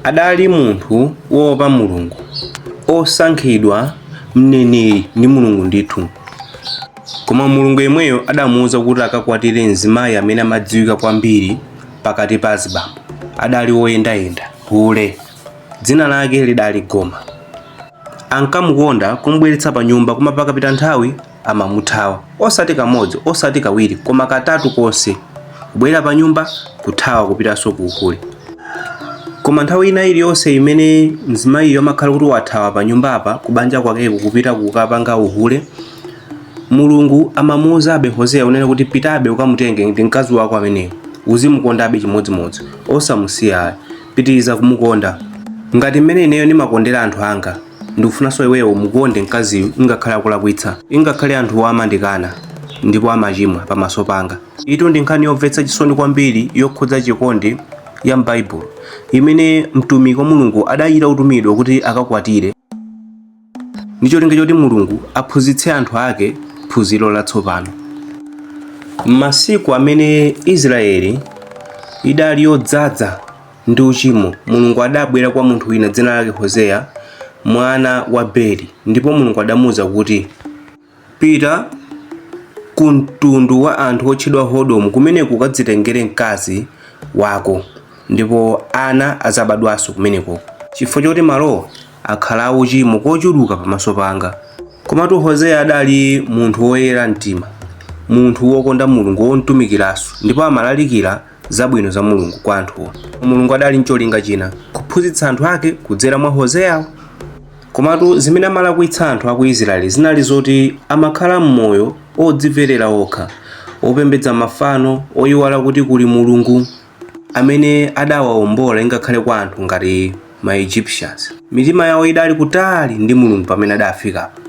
Adali munthu woopa Mulungu, osankhidwa, mneneri ndi Mulungu ndithu. Koma Mulungu yemweyo adamuuza kuti akakwatire mzimayi amene amadziwika kwambiri pakati pa azibambo. Adali woyendayenda, hule. Dzina lake lidali Goma. Ankamukonda, kumubweretsa panyumba, koma pakapita nthawi amamuthawa, osati kamodzi, osati kawiri, koma katatu konse, kubwera panyumba, kuthawa kupitanso ku uhule. Koma nthawi ina iliyonse imene mzimayiyo amakhala kuti wathawa panyumbapa, kubanja kwakeko, kupita kukapanga uhule, Mulungu amamuuzabe Hoseya kunena kuti, Pitabe ukamutenge, ndi mkazi wako ameneyo. Uzimukondabe chimodzimodzi, osamusiya ayi. Pitiriza kumukonda ngati mmene ineyo ndimakondera anthu anga. Ndikufunanso iweyo umukonde mkaziyu ngakhale akulakwitsa. Ngakhale anthuwa amandikana ndipo amachimwa pamaso panga. Iyitu ndi nkhani yomvetsa chisoni kwambiri yokhudza chikondi ya m'Baibulo imene mtumiki wa Mulungu adachita kutumidwa kuti akakwatire ndi cholinga choti Mulungu aphunzitse anthu ake phunziro latsopano. M'masiku amene Israyeli idali yodzadza ndi uchimo, Mulungu adabwera kwa munthu wina dzina lake Hoseya, mwana wa Beri, ndipo Mulungu adamuuza kuti, Pita ku mtundu wa anthu otchedwa Hodomu, kumeneko ukadzitengere mkazi wako, ndipo ana adzabadwanso kumeneko, chifukwa choti malowo akhala auchimo kochuluka pamaso panga. Komatu Hoseya adali munthu woyera mtima, munthu wokonda Mulungu, womutumikiranso, ndipo amalalikira zabwino za Mulungu kwa anthuwo. Mulungu adali ncholinga china, kuphunzitsa anthu ake kudzera mwa Hoseyawo. Komatu zimene amalakwitsa anthu a ku Israeli zinali zoti amakhala m'moyo odziverera okha, opembedza mafano, oyiwala kuti kuli Mulungu amene adawaombola ingakhale kwa anthu ngati ma Egyptians. Mitima yawo idali kutali ndi Mulungu pamene adafikapo.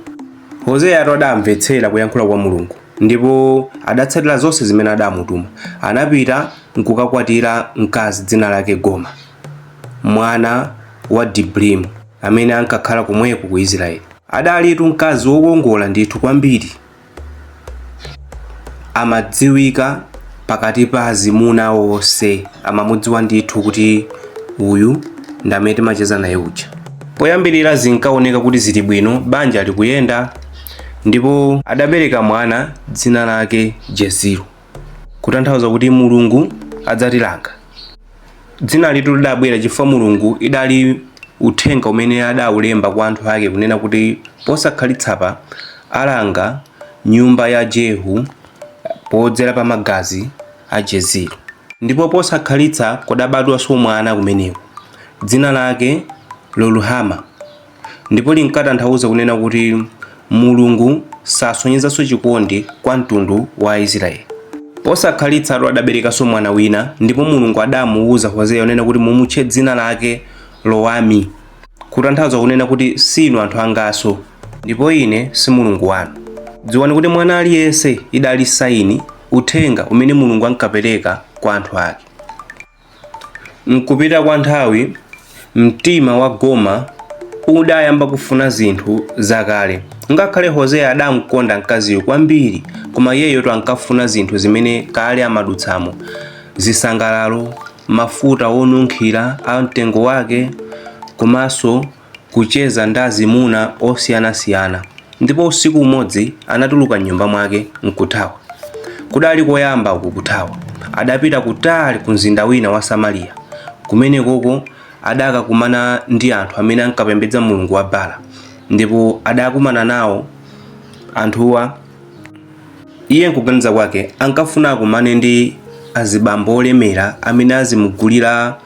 Hoseyatu adamvetsera kuyankhula kwa Mulungu Ndipo adatsatira zonse zimene adamutuma. Anapita nkukakwatira mkazi dzina lake Goma, mwana wa Dibrimu, amene ankakhala komweko ku Israeli. Adalitu mkazi wokongola ndithu kwambiri, amadziwika pakati pa azimuna onse, amamudziwa ndithu kuti uyu ndi amene timacheza naye uja. Poyambirira zinkaoneka kuti zili bwino, banja likuyenda. Ndipo adabereka mwana dzina lake Jezilo, kutanthauza kuti Mulungu adzatilanga. Dzinalitu lidabwera chifukwa Mulungu idali uthenga umene adaulemba kwa anthu ake kunena kuti posakhalitsapa alanga nyumba ya Jehu podzera pa magazi a Jezilo. Ndipo posakhalitsa kudabadwanso mwana kumeneko, dzina lake Loruhama. ndipo linkatanthauza kunena kuti Mulungu sasonyezanso chikondi kwa mtundu wa Aisiraeli. Posakhalitsatu adaberekanso mwana wina, ndipo Mulungu adamuuza Hoseya kunena kuti, Mumutche dzina lake Lowami, kutanthauza kunena kuti, Si inu anthu anganso, ndipo ine si Mulungu wanu. Dziwani kuti mwana aliyense idali saini, uthenga, umene Mulungu ankapereka kwa anthu ake. M'kupita kwa nthawi, mtima wa Goma udayamba kufuna zinthu zakale. Ngakhale Hoseya adamkonda mkaziyu kwambiri, koma iyeyotu ankafuna zinthu zimene kale amadutsamo, zisangalalo, mafuta onunkhira a mtengo wake komanso kucheza ndi azimuna osiyanasiyana ndipo usiku umodzi anatuluka m'nyumba mwake n'kuthawa. Kudali koyamba uku kuthawa. Adapita kutali kumzinda wina wa Samariya. Kumenekoko adakakumana ndi anthu amene ankapembedza mulungu wa Bala ndipo adakumana nawo anthuwa Iye m'kuganiza kwake ankafuna akumane ndi azibambo olemera amene azimugulira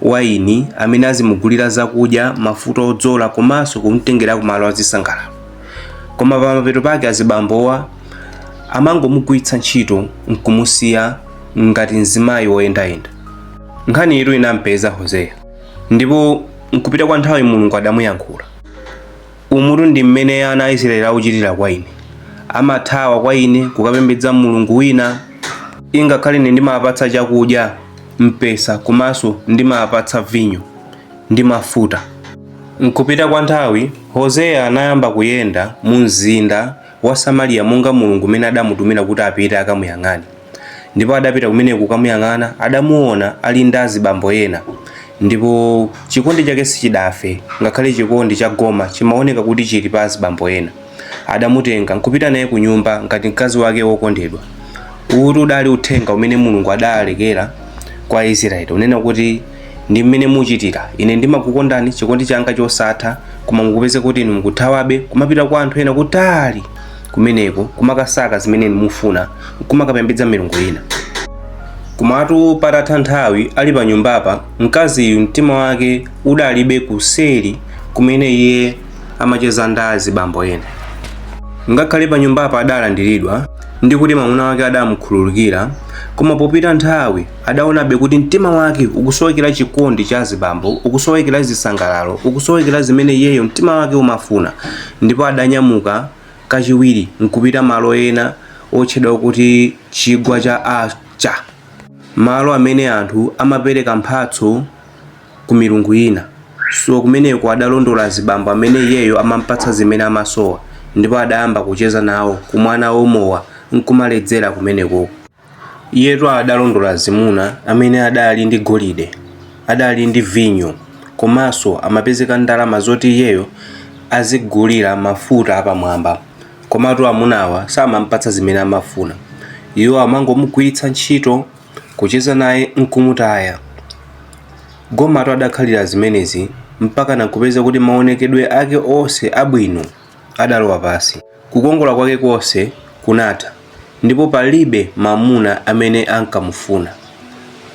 wayini, amene azimugulira zakudya, mafuta odzola komanso kumutengera kumalo azisangalalo. Koma pamapeto pake azibambowa amangomugwiritsa ntchito n'kumusiya ngati mzimayi woyendayenda. Nkhaniyitu inam'peza Hoseya ndipo m'kupita kwa nthawi Mulungu adamuyankhula. Umutu ndi mmene ana a Isiraeli akuchitira kwa ine. Amathawa kwa ine kukapembedza mulungu wina ingakhale ine ndimawapatsa chakudya, mpesa komanso ndimawapatsa vinyo ndi mafuta. M'kupita kwa nthawi, Hoseya anayamba kuyenda mumzinda wa Samariya monga Mulungu m'mene adamutumira kuti apite akamuyang'ane. Ndipo adapita kumeneko kukamuyang'ana, adamuwona ali ndi azibambo ena. Ndipo chikondi chake sichidafe, ngakhale chikondi cha Goma chimawoneka kuti chiri pa azibambo ena. Adamutenga nkupita naye kunyumba ngati mkazi wake wokondedwa. Uwutu udali uthenga umene Mulungu adalekera kwa Isiraeli, kunena kuti. Ndi mmene muchitira. Ine ndimakukondani, chikondi changa chosatha, koma mukupezeka kuti inu mukuthawabe, kumapita kwa anthu ena kutali kumeneko, kumakasaka zimene inu mufuna, nkumakapembedza milungu ina. Komatu patatha nthawi ali panyumbapa, mkaziyu mtima wake udakalibe kuseri kumene iye amacheza ndi azibambo ena. Ngakhale panyumbapa adalandiridwa, ndi kuti mwamuna wake adaamukhululukira, koma popita nthawi, Adaonabe kuti mtima wake ukusowekera chikondi cha azibambo, ukusowekera zisangalalo, ukusowekera zimene iyeyo mtima wake umafuna ndipo adanyamuka kachiwiri n'kupita malo ena otchedwa kuti Chigwa cha a Cha, malo amene anthu amapereka mphatso ku milungu ina. So kumeneko adalondola azibambo amene iyeyo amampatsa zimene amasowa ndipo adayamba kucheza nawo, kumwa nawo mowa n'kumaledzera kumenekoko. Iyetu adalondola azimuna amene adali ndi golide, adali ndi vinyo komanso amapezeka ndalama zoti iyeyo azigulira mafuta apamwamba. Komatu amunawa samampatsa zimene amafuna. Iwo amangomugwiritsa ntchito, kucheza naye n'kumutaya. Gomatu adakhalira zimenezi mpakana n'kupezeka kuti maonekedwe ake onse abwino adalowa pansi. Kukongola kwake konse kunatha, ndipo palibe mwamuna amene ankamufuna.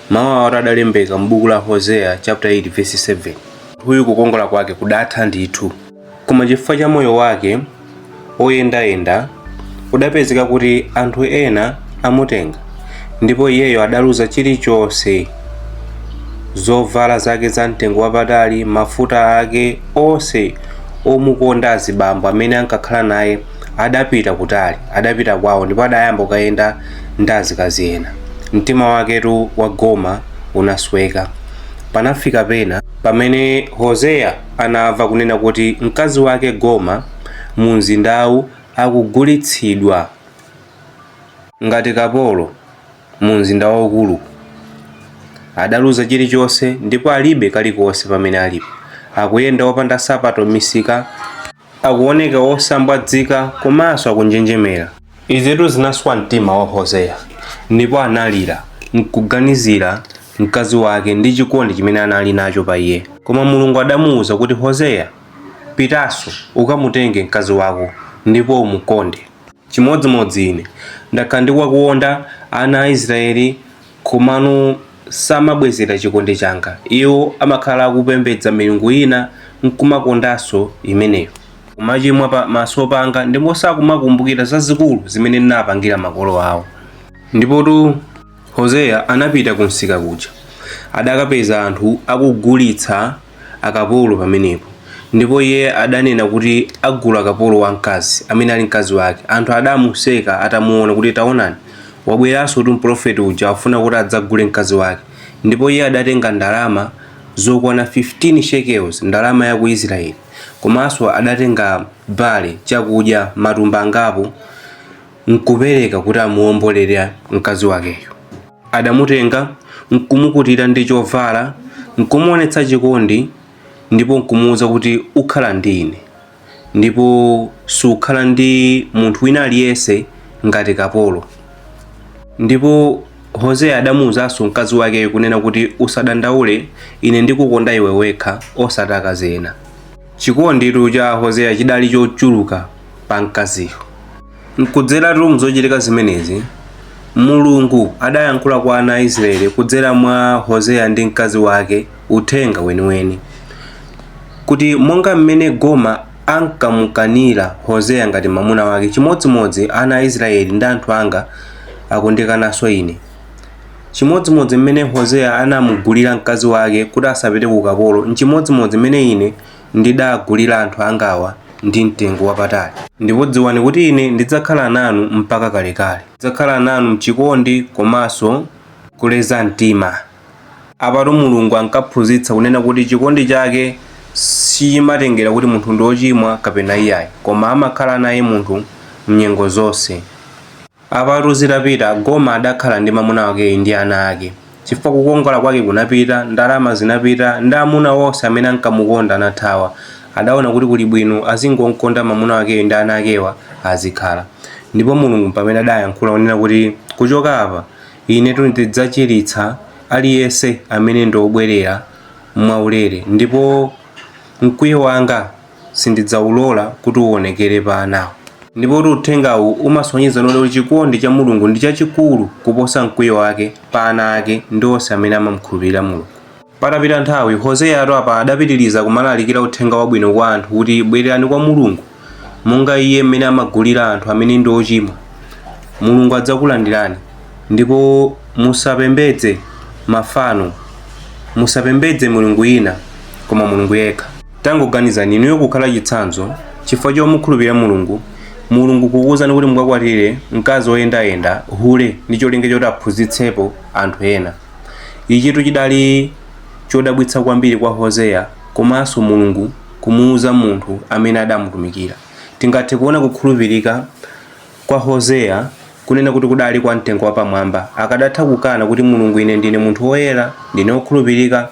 Mawu awatu adalembeka m'buku la Hoseya chapter 8 verse 7. Munthuyu kukongola kwake kudatha ndithu, koma chifukwa cha moyo wake oyendayenda kudapezeka kuti anthu ena amutenga ndipo iyeyo adaluza chilichonse. zovala zake za mtengo wapatali mafuta ake onse omukonda azibambo amene ankakhala naye adapita kutali adapita kwawo ndipo adayamba kukayenda ndi azikazi ena mtima waketu wa goma unasweka panafika pena pamene hoseya anamva zonena kuti mkazi wake goma mu mzindawu akugulitsidwa ngati kapolo mu mzinda waukulu. Adaluza chilichonse ndipo alibe kalikonse pamene alipo. Akuyenda opanda nsapato m'misika. Akuoneka wosambwazika komanso akunjenjemera. Izitu zinaswa mtima wa Hoseya ndipo analira n'kuganizira mkazi wake ndi chikondi chimene anali nacho pa iye. Koma Mulungu adamuuza kuti, Hoseya, pitanso ukamutenge mkazi wako ndipo umukonde. Chimodzimodzi ine. Ndakhala ndikuwakonda ana a Israeli, komano samabwezera chikondi changa. Iwo amakhala akupembedza milungu ina nkumakondanso imeneyo. Kumachimwa pa maso panga, ndipo sakumakumbukira zazikulu zimene ndinawapangira makolo awo. Ndipotu Hoseya anapita kumsika kuja. Adakapeza anthu akugulitsa. akapolo pamenepo. Ndipo iye adanena kuti agula kapolo wamkazi, amene ali mkazi wake. Anthu adamuseka atamuona kuti, Taonani, wabweransotu mpulofeti uja afuna kuti adzagule mkazi wake. Ndipo iye adatenga ndalama zokwana 15 shekels, ndalama ya ku Israeli. Komanso adatenga barle, chakudya, matumba angapo, n'kupereka kuti amuwombolere mkazi wakeyo. Adamutenga, nkumukutira ndi chovala, nkumuwonetsa chikondi, ndipo nkumuuza kuti, Ukhala ndi ine, ndipo sukhala ndi munthu wina aliyense ngati kapolo. Ndipo Hoseya adamuuzanso mkazi wakeyo kunena kuti, Usadandaule, ine ndikukonda iwe wekha, osati akazi ena. Chikonditu cha Hoseya chidali chochuluka pa mkaziyo. Nkudzeratu mu zochitika zimenezi, Mulungu adayankhula kwa ana a Israeli kudzera mwa Hoseya ndi mkazi wake uthenga weniweni, kuti monga mmene Goma ankamukanira Hoseya ngati mamuna wake, chimodzimodzi ana a Israeli ndi anthu anga akundikananso ine. Chimodzimodzi mmene Hoseya anamugulira mkazi wake kuti asapite ku ukapolo, nchimodzimodzi mmene ine ndidagulira anthu angawa ndi mtengo wapatali. Ndipo dziwani kuti ine ndidzakhala nanu mpaka kalekale. Ndidzakhala nanu m'chikondi komanso kuleza mtima. Apatu Mulungu ankaphunzitsa kunena kuti chikondi chake sichimatengera kuti munthu ndi wochimwa kapena iyayi, koma amakhala naye munthu m'nyengo zonse. Apatu zitapita, Goma adakhala ndi mamuna wakeyu ndi ana ake. Chifukwa kukongola kwake kunapita, ndalama zinapita, ndi amuna onse amene ankamukonda anathawa, adaona kuti kuli bwino azingomkonda mamuna wakeyu ndi ana akewa azikhala. Ndipo Mulungu mpamene adayankhula kunena kuti kuchoka apa, inetu ndidzachiritsa aliyense amene ndi obwerera mwaulere, ndipo mkwiyo wanga. sindidzaulola kuti uonekere pa anawo. Ndipotu uthengawu umasonyeza ndithu kuti chikondi cha Mulungu ndi chachikulu kuposa mkwiyo wake pa ana ake ndi onse amene amamukhulupirira Mulungu. Patapita nthawi, Hoseyatu apa adapitiriza kumalalikira uthenga wabwino kwa anthu kuti bwererani kwa Mulungu, monga Iye mmene amagulira anthu amene ndi ochimwa. Mulungu adzakulandirani. Ndipo musapembedze mafano. Musapembedze milungu ina, koma Mulungu yekha. Tangoganizani, inuyo kukhala chitsanzo chifukwa chomukhulupirira Mulungu, Mulungu kukuuzani kuti mukakwatire mkazi woyendayenda, hule, ndi cholinga choti aphunzitsepo anthu ena. Ichitu chidali chodabwitsa kwambiri kwa Hoseya komanso Mulungu kumuuza munthu amene adamutumikira. Tingathe kuona kukhulupirika kwa Hoseya kunena kuti kudali kwa mtengo wapamwamba. Akadatha kukana kuti Mulungu ine ndine munthu woyera, ndine wokhulupirika.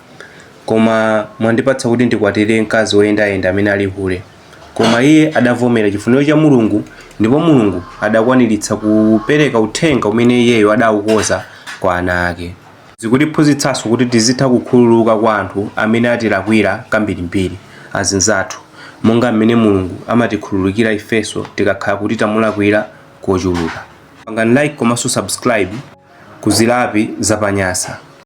Koma mwandipatsa kuti ndikwatire mkazi woyendayenda amene ali hule. Koma iye adavomera chifuniro cha Mulungu, ndipo Mulungu adakwaniritsa kupereka uthenga umene iyeyo adaukonza kwa ana ake. Zikutiphunzitsanso kuti tizitha kukhululuka kwa anthu amene atilakwira kambirimbiri, azinzathu, monga m'mene Mulungu amatikhululukira ifenso tikakhala kuti tamulakwira kochuluka. Pangani like komanso subscribe ku Zilapi za pa Nyasa.